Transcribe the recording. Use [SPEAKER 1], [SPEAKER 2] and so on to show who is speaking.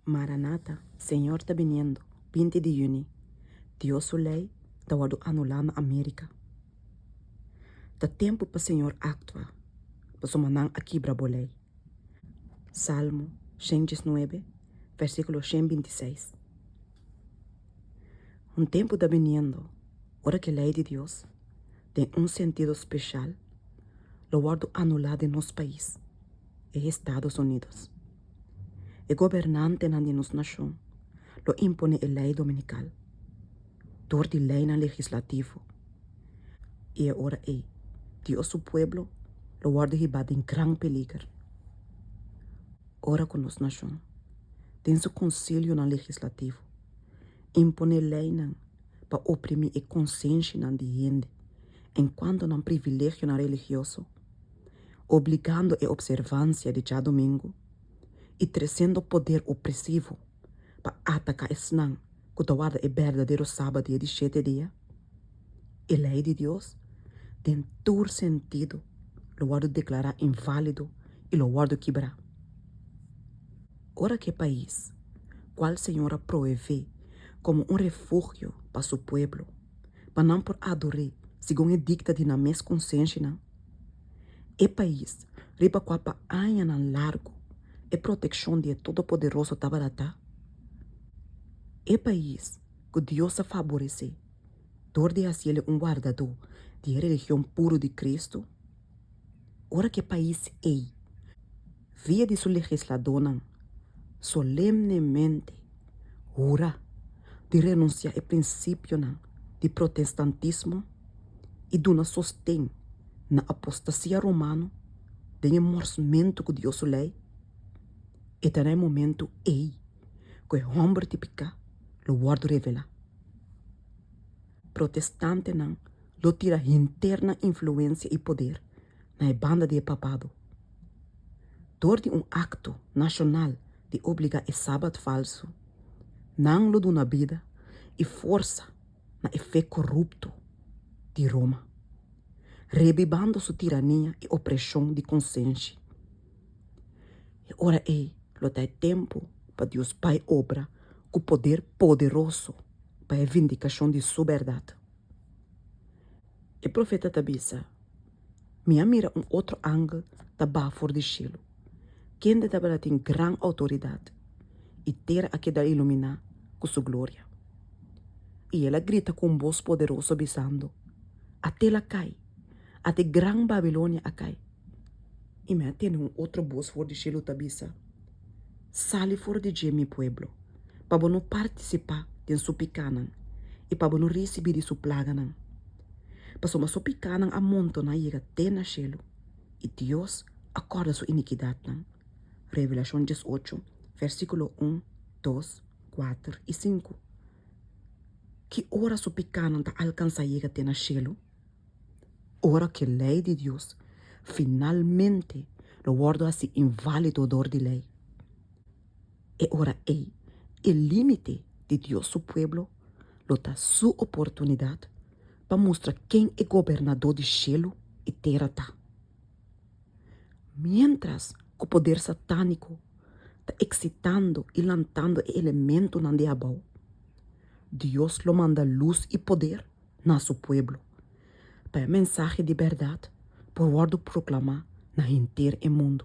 [SPEAKER 1] Maranata, Señor ta biniendo, binti di yüni, Dios su ley ta wordo anulá na America. Ta tempu pa Señor actua, pasobra nan a kibra bo ley. Salmo shen diesnuebe, versiculo shen binti i seis. Un tempu ta biniendo ora cu e ley di Dios, den un sentido special, lo wordo anulá den nos pais, e Estados Unidos. E gobernantenan di nos nashon lo imponé e lei dominical dor di leinan legislativo i e ora ei Dios su pueblo lo wòrdu hibá den gran peliger. Ora ku nos nashon den su konsilionan legislativo imponé leinan pa oprimí e konsenshianan di hende en kuanto nan privilegionan religioso, obligando e observansia di djadumingu i tresendo poder opresivo pa ataka esnan ku ta warda e berdadero sabadié di shete dia. E lei di Dios den tur sentido lo wòrdu deklará inválido i lo wòrdu kibrá. Ora ku e pais ku al Señor a proevé komo un refugio pa su pueblo pa nan por ador'É segun e dikta di nan mes konsenshianan, E pais riba kua pa añanan largu e protekshon di e Todopoderoso tabata ta e pais ku Dios a faboresé dor di hasi el un wardadó di e religion puru di Kristu, ora ku e pais ei, via di su legisladónan, solemnemente hura di renunsiá e prinsipionan di protestantismo i duna sosten na apostasia romano den e morsmentu ku Dios su lei, e ta na e momentu ei ku e hòmber di piká lo wòrdu revelá. Protestantenan lo tira hinter nan influensia i poder na e banda di e papado dor di un akto nashonal di obligá e sabat falsu. Nan lo duna bida i forsa na e fe korupto di Roma, rebibando su tirania i opreshon di konsenshi. E ora ei lo ta e tempu pa Dios bai obra ku poder poderoso pa e vindikashon di su bèrdat. E profeta ta bisa, Mi a mira un otro angel ta baha for di shelu, kende tabata tin gran outoridat, i tera a keda iluminá ku su gloria. I el a grita ku un bos poderoso bisando, Atel a kai! At e gran Babilonia a kai. I me a tene un otro bos for di shelu ta bisa, Sali for di dje mi pueblo, pa bo no partisipá den su pikánan i pa bo no risibí di su plaganan. Pasobra su pikánan a montoná yega te na shelu, i Dios a kòrda su inikidatnan. Revelashon dies ocho, vèrsikulo un, dos, kuater i sinku. Ki ora su pikánan ta alkansá yega te na shelu? Ora ku e Lei di Dios finalmente lo wòrdu hasi inválido dor di Lei, e ora ei e límite di Dios su pueblo lo ta su oportunidat pa mustra ken e Gobernadó di shelu i tera ta. Miéntras ku poder satániko ta eksitando i lantando e elementunan di abou, Dios lo manda lus i poder, na su pueblo, pa e mensahe di bèrdat por wòrdu proklamá na henter e mundu.